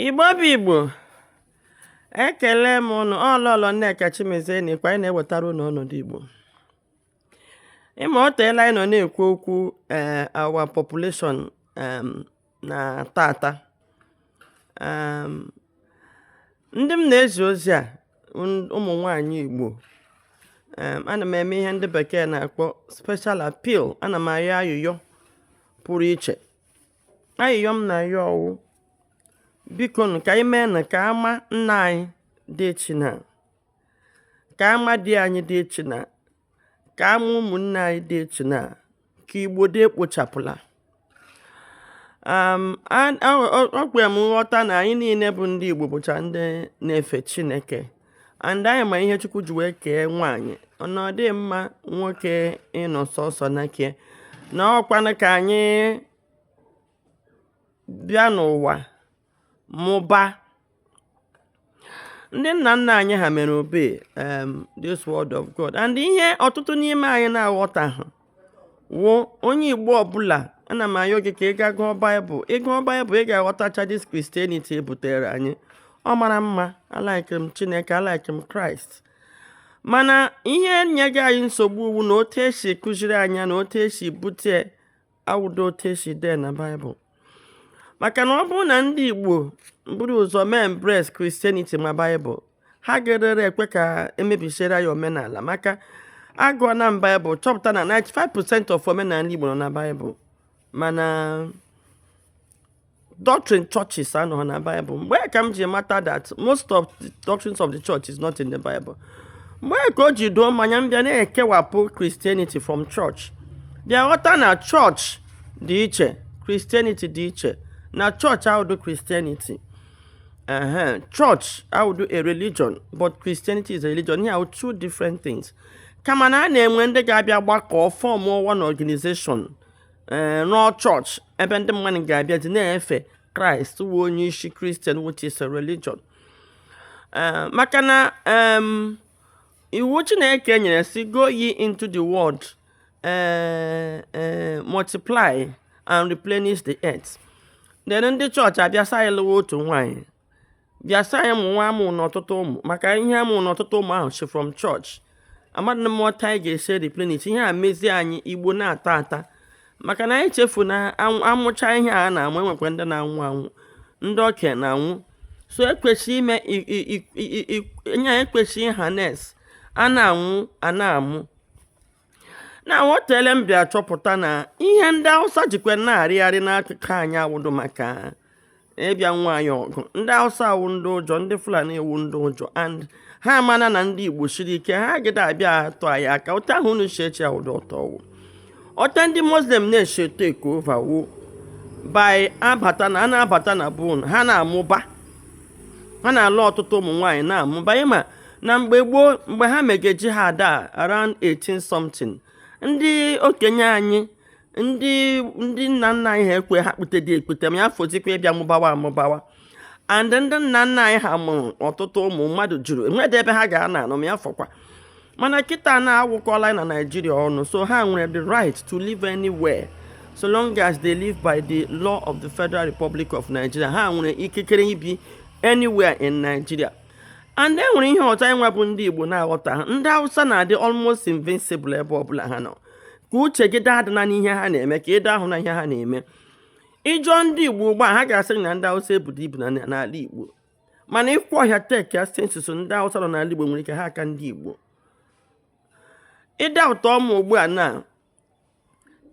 igbo bụ igbo ekele m ụnụ ọ lọlọ nneka chimezie na-ekwu anyị na-ewetara ụnụ ọnọdụ igbo ị ma ọ teela anyị nọ na-ekwu okwu ee eh, our population na tata ndị m na-ezi ozi a ụmụ nwanyị igbo ana m eme ihe ndị bekee na-akpọ special appeal ana m ayọ ayịyọ pụrụ iche ayịyọ m na-ayọ wụ biko nụ ka anyị mee nụ ka ama nna anyị dị echina ka ama di anyị dị echina ka ama ụmụnne anyị dị echina ka igbo dị ekpochapụla um, a- a- ọ ọ kwere m nghọta na anyị niile bụ ndị igbo bụcha ndị na-efe chineke and anyị ma ihe chukwu ji wee kee nwaanyị na ọ dị mma nwoke ịnọ sọsọ na ke na ọ kwanụ ka anyị bịa n'ụwa mụba ndị nna nna anyị ha mere obey um, this word of God and ihe ọtụtụ n'ime anyị na-aghọtahụ wụ onye igbo ọbụla ana m ayọ gị ka ị gaa gụọ baịbụl ị gụọ baịbụl ị ga-aghọtacha this christianity e butere anyị ọ mara mma a like m chineke a like m kraịst mana ihe nyega anyị nsogbu wụ na otu e si kụziere anyị ya na otu e si bute awụdị otu e si dee na baịbụl maka na ọ bụrụ na ndị Igbo buru ụzọ mee embrace Christianity ma Baịbụl ha ga-erere ekwe ka e mebisiere ya omenala maka agụọna m Baịbụl chọpụta na 95% of omenala Igbo nọ na Baịbụl mana doctrine churches anọghị na Baịbụl mgbe ka m ji mata that most of the doctrines of the church is not in the Bible mgbe ka o ji doo m anya m bịa na-ekewapụ Christianity from church bịa ghọta na church dị iche christianity dị iche na church awụdị christianity church awụdị a religion but christianity is a religion ihe a wụ two different things kama na a na-enwe ndị ga-abịa gbakọọ form one organization eh, rụọ church ebe ndị mmadụ ga-abịazị na-efe kraịst wụ onye isi christian which is a religion eh, maka na iwu chineke nyere sị go ye into the world ee ee multiply and replenish the earth then ndị church abịa sị anyị lụwa otu nwaanyị bịa sị anyị mụ nwa amụna ọtụtụ ụmụ maka ihe amụna ọtụtụ ụmụ ahụ si from church amadị m otu anyị ga-esi replenish ihe a mezie anyị igbo na-ata ata maka na anyị chefuru na a mụcha ihe a na-amụ e nwekwa ndị na-anwụ anwụ ndị ọkịa na-anwụ so e kwesị ime nye e kwesị harness a na-anwụ a na-amụ na hotele m bịa chọpụta na ihe ndị awụsa jikwa na-arịgharị n'akụkụ anyị awụdụ maka ịbịa nụwa anyị ọgụ ndị awụsa awụ ndị ụjọ ndị fulani awụ ndị ụjọ and ha amana na ndị igbo siri ike ha agadị abịa atụ anyị aka otu ahụ unu si eche awụdụ otu ọ wụ otu ndị muslim na-esi etek ova wụ by abata na a na-abata na bon ha na-amụba ha na-alụ ọtụtụ ụmụ nwaanyị na-amụba ịma na mgbe gboo mgbe ha mega jihad around 18 something ndị okenye anyị ndị ndị nna nna anyị ha ekwe ha kpute dị ekpute ma ya fọzikwa ịbịa mụbawa amụbawa and ndị nna nna anyị ha mụrụ ọtụtụ ụmụ mmadụ juru enwedị ebe ha ga na-anọ ma ya fọkwa mana kịta na agwakọlana naijiria ọnụ so ha nwere the right to live anywhere so long as they live by the law of the federal republic of nigeria ha nwere ikikere ibi anywhere in nigeria and e nwere ihe ọzọ anyịnwa bụ ndị Igbo na-aghọtaha ndị Hausa na-adị almost invincible ebe ọbụla ha nọ ka uche gị daa adịna n'ihe ha na-eme ka ị da ahụna ihe ha na-eme ị jụọ ndị Igbo ugbu a ha ga-asị na ndị Hausa ebudị ibu n'ala Igbo mana ị kwaa ọhịa tekia sensus ndị Hausa nọ n'ala Igbo nwere ike ha aka ndị Igbo ịda ụtọ ọma ugbu a na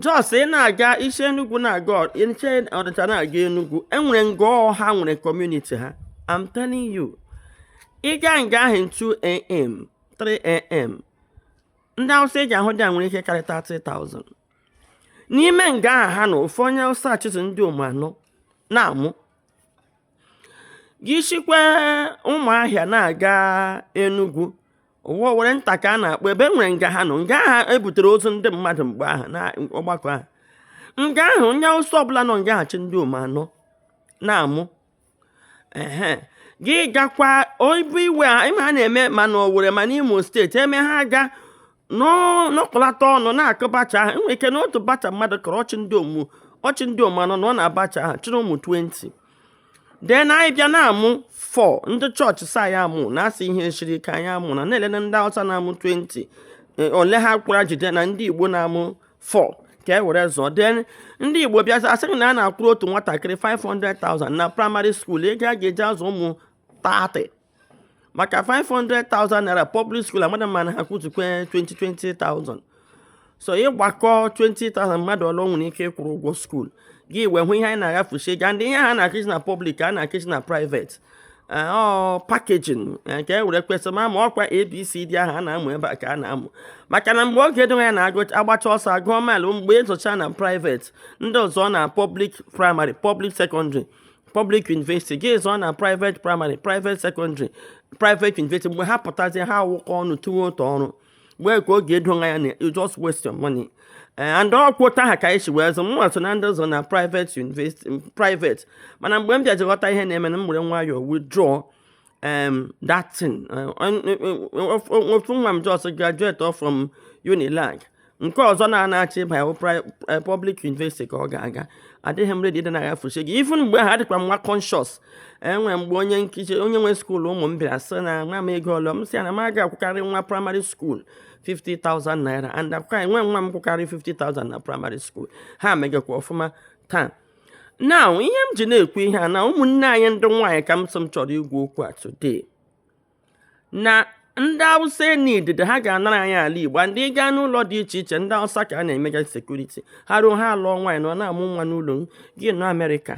just ị na-aga ị si enugwu na-aga ị si ọnịcha na-aga enugwu e nwere nga ha nwere kọmuniti ha I'm telling you ị ga nga ahụ 2am 3am ndị awụsa ị ga-ahụ there nwere ike karịta 3000 n'ime nga ahụ ha na ofu onye awụsa chịtụ ndị omu anọ na-amụ gị shikwa ụmụahịa na-aga enugwu ọ wụ Owerrinta ka a na-akpọ ebe e nwere nga ha nọ nga ha butere ozu ndị mmadụ mgbe ahụ na ọgbakọ ahụ nga ahụ onye awụsa ọbụla nọ nga ahụ chị ndị omu anọ na-amụ ehe gị gakwa Oyigbo ihe a ịma a na-eme ma na Owerri ma n'Imo steeti eme ha ga nọkọlata ọnụ na-akụ bacha ahụ e nwere ike na otu bacha mmadụ kụrụ ọ chị ndị omu ọ chị ndị omu anọ nọ na bacha ahụ chịrị ụmụ 20 then anyị bịa na-amụ 4 ndị chọọchị sị anyị amụna asị ihe siri ike anyị amụna na-elele ndị Hausa na-amụ 20 eh, ole ha kwara jide na ndị Igbo na-amụ 4 ka e were zụọ then ndị Igbo bịa asị na a na-akwụrụ otu nwatakịrị 500,000 na praịmarị skuul ego a ga-eji azụ ụmụ 30 maka 500,000 naira public school amadị m ma ha akwụzikwa 20,000 so ị gbakọọ 20,000 mmadụ ole nwere ike ịkwụrụ ụgwọ skuul gị wee hụ ihe anyị na-agafusi ga ndị ihe ha na-akụzi na pọblik ka a na-akụzi na private eh, ọ pakejin eh, nke e were kwesịrị ma ma ọ kwa abc dị ahụ a na-amụ ebe a ka a na-amụ maka na mgbe oge dịwa ya na agbacha ọsọ a gụọ maịlụ mgbe ị zụcha na private ndị ọzọ na pọblik praịmarị pọblik sekọndịrị public university gị zụọ na private primary private secondary private university mgbe ha pụtazi ha awụkọ ọnụ tụwa otu ọrụ wee ka ọ ga-edo ya na you just waste your money eh, and ọkwa otu ahụ ka anyị si wee zụ mụnwa so na ndị zụ na private university private mana mgbe m bịazi ghọta ihe na-eme na m were nwayọọ withdraw um, that thing ofu nwa m jos graduate from unilag nke ọzọ na-anachi ịba ya eh, public university ka ọ ga-aga adịghị m redi dị na ya fusi gị even mgbe ha dịkwa nwa conscious enwe mgbe onye nkuzi onye nwe skuul ụmụ m bịara sị na nwa m ego ole m sị ya na m aga akwụkarị nwa praịmarị skuul 50,000 naira and akwụkarị nwe nwa m kwụkarị 50,000 na praịmarị skuul ha megakwa ọfụma taa now ihe m ji na-ekwu ihe a na ụmụnne anyị ndị nwaanyị ka m sị m chọrọ ikwu okwu a today na ndị awụsa any day ha ga-anara anyị ala igbo and ị gaa n'ụlọ dị iche iche ndị awụsa ka a na-emega sekuriti ha ruo ha alụọ nwaanyị na ọ na-amụ nwa n'ụlọ gị nọ amerịka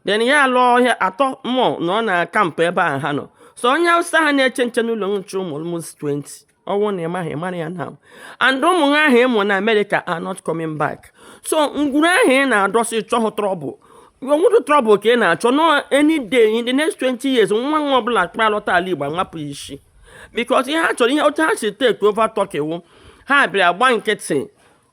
den ya alụọ ọhịa atọ mọ anọ na kampụ ebe ahụ ha nọ so onye awụsa a na-eche nche n'ụlọ nche ụmụ almost 20 ọ wụ na ị maghị ị mara ya now and ụmụ ahụ ị mụ na amerịka are not coming back so ngwuru ahụ ị na-adọsị chọhụ trọbụl ọ wụrụ trọbụl ka ị na-achọ no any day in the next 20 years nwa nwa ọbụla ga-alọta ala igbo a wapụ isi because ihe ha chọrọ ihe otu ha si take over Turkey wụ ha bịara gba nkịtị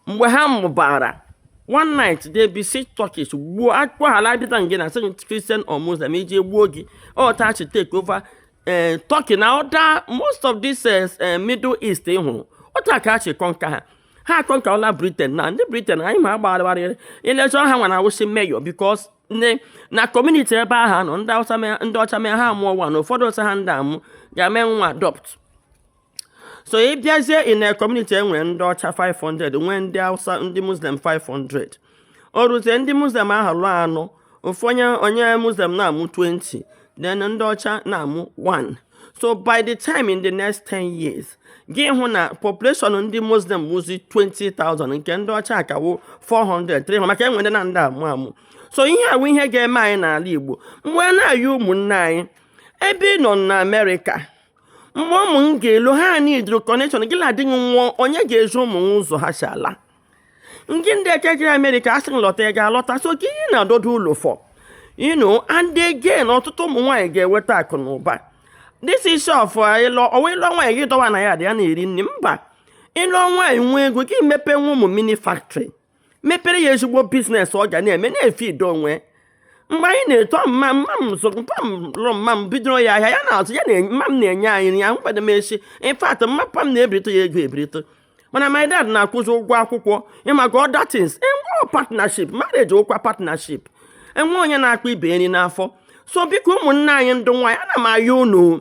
mgbe ha mụbara one night they besiege turkey gbuo akpọghala dịta nge na sị christian or muslim ị jụ e gbuo gị otu a ha chi oh, take over eh, turkey na ọda most of this eh, eh, middle east ị hụrụ otu a ka ha chi kọnka ha ha akọnkala britain na ndị britain anyị ma agbarịgharịrị ilechọ ha nwa na-awụzi mayor because nne na kọmuniti ebe ha nọ ndị ọcha mee ha amụọ nwa naa ụfọdụ sị ha adị amụ ga-eme nwa adopt so ị bịazie in a community e nwere ndị ọcha 500 nwee ndị hausa ndị muslim 500 o ruzie ndị muslim ahụ lụọ anọ ofu onye onye muslim na-amụ 20 then ndị ọcha na-amụ 1 so by the time in the next 10 years gị hụ na population ndị muslim wụzi 20,000 nke ndị ọcha akawụ 400 300 maka enwere ndị na-adị amụ amụ so ihe a wụ ihe ga-eme anyị n'ala igbo mgbe na-adịghị anya ụmụnne anyị ebe ị nọ na amerịka mgbe ụmụ m ga-elu ha anyị idoro kọnekshọn gị na-adị gị nwụọ onye ga-ezi ụmụ m ụzọ ha si ala nke ndị echejiri amerịka asị lọta ị ga-alọta so gịnị ị na-adọdo ụlọ for inu and again ọtụtụ ụmụ nwaanyị ga-enweta akụ na ụba this issue of ịlụ ọ wụ ịlụ nwaanyị gị dọwa na yard ya na-eri nri mba ị lụọ nwaanyị nwee ego gị mepe nwa ụmụ mini factory mepere ya ezigbo business ọ ga na-eme na-efe ido onwe mgbe anyị na-eto mma mma m zụrụ mpa m lụrụ mma m bidoro ya ahịa ya na-azụ ya mma m na-enye anyị nri ya mgbede m echi in fact ma papa m na-ebirite ya ego ebirite mana my dad na-akwụzi ụgwọ akwụkwọ ịmaga other things enweghị partnership marriage wụkwa partnership enwe onye na-akpa ibe nri n'afọ so biko ụmụnne anyị ndị nwaanyị ana m ayọ unu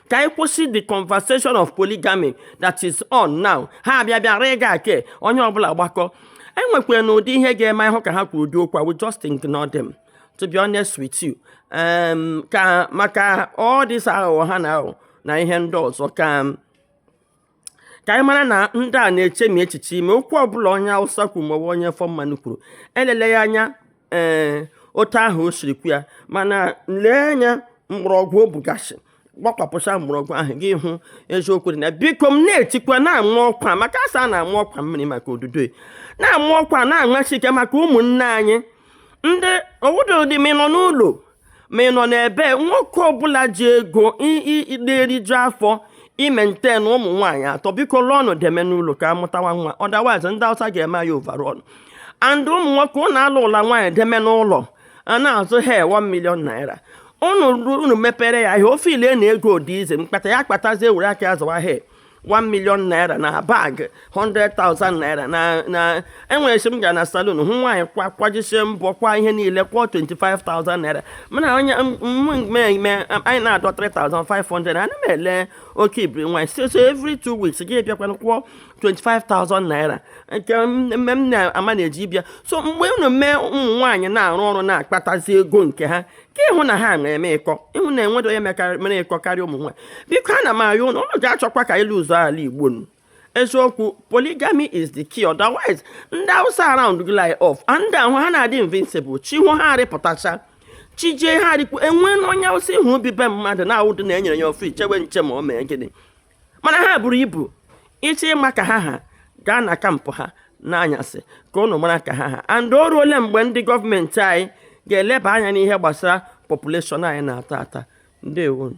ka anyị kwụsị the conversation of polygamy that is on now ha abịa bịa rịga ake onye ọbụla gbakọ e nwekwaranụ ụdị ihe ga-eme ị hụ ka ha kwuru ụdị okwu a we just ignore them to be honest with you um, ka maka all this aghụghọ ha na aghụghọ na ihe ndị ọzọ ka ka anyị mara na ndị a na-eche ma echiche ime okwu ọbụla onye awụsa kwuru maọbụ onye ofe mmanụ kwuru elele ya anya ee eh, otu ahụ o siri kwuo ya mana lee anya mgbọrọgwụ o bugasị gbakwapụcha mgbọrọgwụ ahụ gị hụ eziokwu dị na biko m na-etikwa na-ama ọkwa maka asa na-ama ọkwa mmiri maka odudo na-ama ọkwa na-aṅachi ike maka ụmụnne anyị ndị obodo dị m nọ n'ụlọ ma ị nọ n'ebe nwoke ọbụla ji ego na-eriju afọ ị maintain ụmụ nwaanyị atọ biko lụọnụ deme n'ụlọ ka amụtawa nwa otherwise ndị awụsa ga-eme anyị overrun and ụmụ nwoke ụnụ alụla nwaanyị deme n'ụlọ a na-azụ ha 1 million naira unu mepere ya ahịa ọ feel na ego dị easy mkpata ya kpatazie were aka ya zụwa ihe 1 million naira na bag 100,000 naira na na enwere si m gara na salon hụ nwaanyị kwa kwajisie mbọ kwa ihe niile kwụọ 25,000 naira mana onye mmemme anyị na-adọ 3,500 ana m ele oke ibiri nwaanyị so so every two weeks gị bịakwanụ kwụọ 25,000 naira nke mme m na-ama na-eji bịa so mgbe unu mee ụmụ nwaanyị na-arụ ọrụ na-akpatazi ego nke ha ka ịhụ na ha mere eme iko ịhụ na enwedo onye mere iko karịa ụmụ nwaanyị biko ana m ayọ ụnụ ụnụ ga-achọkwa ka ịlụ ụzọ ala igbo nụ eziokwu polygamy is the key otherwise ndị awụsa around gị lie off ndị ahụ ha na-adị invisible chi hoo ha arịpụtacha chi jie ha arịkpuo enwenụ onye awụsa ị hụ o bi be mmadụ na-awụdị na enyere ya ofe ichewe nche ma ọ mee gịnị mana ha buru ibu ị chọọ ịma ka ha ha gaa na camp ha n'anyasị ka ụnụ mara ka ha ha and o ruole mgbe ndị gọọmenti anyị ga-eleba anya n'ihe gbasara population anyị na-ata ata ndewonụ